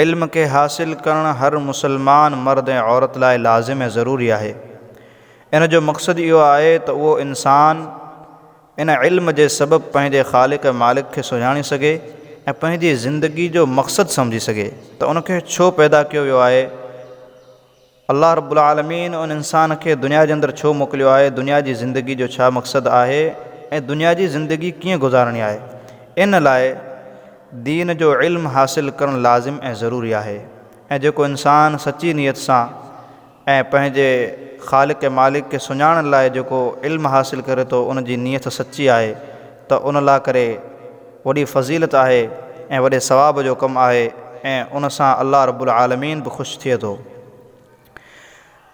علم کي حاصل ڪرڻ هر مسلمان مرد ۽ عورت لاء لازم ۽ ضروري آهي. ان جو مقصد اهو آهي ته اهو انسان ان علم جي سبب پنهنجي خالق ۽ مالڪ کي سڃاڻي سگهي ۽ پنهنجي زندگي جو مقصد سمجهي سگهي ته ان کي ڇو پيدا ڪيو ويو آهي. الله رب العالمين ان انسان کي دنيا جي اندر ڇو موڪليو آهي، دنيا جي زندگي جو ڇا مقصد آهي ۽ دنيا جي زندگي ڪيئن گذارڻي آهي، ان لاء دين جو علم حاصل ڪرڻ لازم ۽ ضروري آهي ۽ جيڪو انسان سچي نيت سان ۽ پنهنجي خالق ۽ مالڪ کي سڃاڻڻ لاء جيڪو علم حاصل ڪري ٿو ان جي نيت سچي آهي، ته ان لا ڪري وڏي فضيلت آهي ۽ وڏي ثواب جو ڪم آهي ۽ ان سان الله رب العالمين به خوش ٿئي ٿو.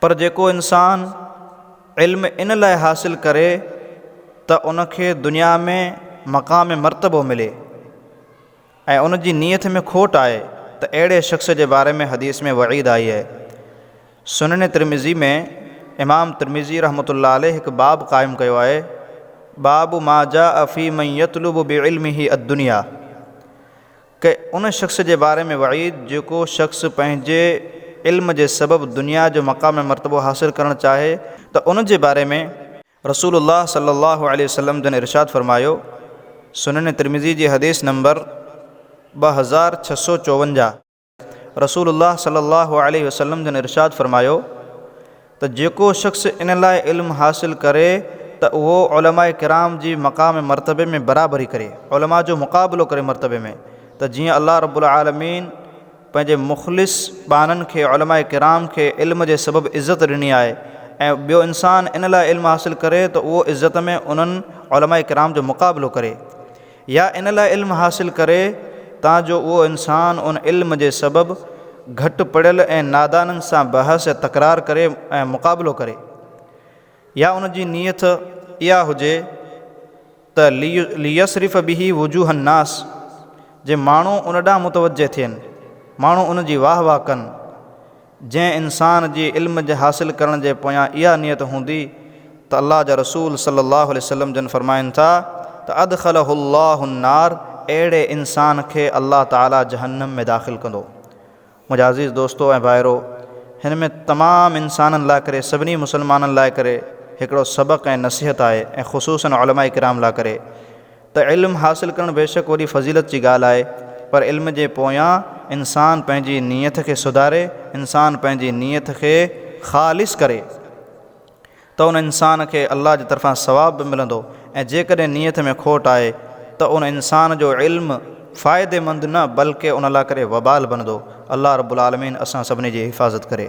پر جيڪو انسان علم ان لاء حاصل ڪري ته ان کي دنيا ۾ مقام مرتبو ملي. ۽ ان جي نيت ۾ کوٽ آهي ته اهڙي شخص جي باري ۾ حديث ۾ وعيد آئي آهي. سنن ترمذي ۾ امام ترمذي رحمة الله عليه هڪ باب قائم ڪيو آهي، باب ما جاء في من يطلب بعلمه الدنيا، ڪي ان شخص جي باري ۾ وعيد جيڪو شخص پنهنجي علم جي سبب دنيا جو مقام ۽ مرتبو حاصل ڪرڻ چاهي ته ان جي باري ۾. رسول الله صلي الله عليه وسلم جن ارشاد فرمايو، سنن ترمذي جي حديث نمبر ٻه هزار ڇهه سؤ چوونجاهه، رسول الله صلي الله عليه وسلم جن ارشاد فرمايو ته جيڪو شخص ان لاء علم حاصل ڪري ته اهو علماء ڪرام جي مقام مرتبي ۾ برابري ڪري، علماء جو مقابلو ڪري مرتبي ۾، ته جيئن الله رب العالمين. پنهنجي مخلص ٻانهن کي علماء ڪرام کي علم جي سبب عزت ڏني آهي ۽ ٻيو انسان ان لاء علم حاصل ڪري ته اهو عزت ۾ انهن علماء ڪرام جو مقابلو ڪري يا ان لاء علم حاصل ڪري تان جو اهو انسان ان علم جي سبب گهٽ پڙهيل ۽ نادانن سان بحث يا تڪرار ڪري ۽ مقابلو ڪري. يا ان جي نيت اها هجي ته ليصرف به وجوه الناس جي ماڻهو ان ڏانهن متوجه ٿين، ماڻهو ان جي واهه واهه ڪن. جنهن انسان جي علم جي حاصل ڪرڻ جي پويان اها نيت هوندي ته الله جا رسول صلي الله عليه وسلم جن فرمائن ٿا ته ادخله الله النار اهڙي انسان کي الله تعالي جهنم ۾ داخل ڪندو. منهنجا عزيز دوستو ۽ ڀائرو! هن ۾ تمام انسانن لاء ڪري، سڀني مسلمانن لاء ڪري هڪڙو سبق ۽ نصيحت آهي ۽ خصوصاً علماء ڪرام لاء ڪري ته علم حاصل ڪرڻ بيشڪ وڏي فضيلت جي ڳالهه آهي پر علم جي پويان انسان پنهنجي نيت کي سڌاري، انسان پنهنجي نيت کي خالص ڪري. ته ان انسان کي الله جي طرفان ثواب به ملندو ۽ جيڪڏهن نيت ۾ کوٽ آهي ته ان انسان جو علم فائديمند نه بلڪه ان لاء ڪري وبال بنندو. الله رب العالمين اسان سڀني جي حفاظت ڪري.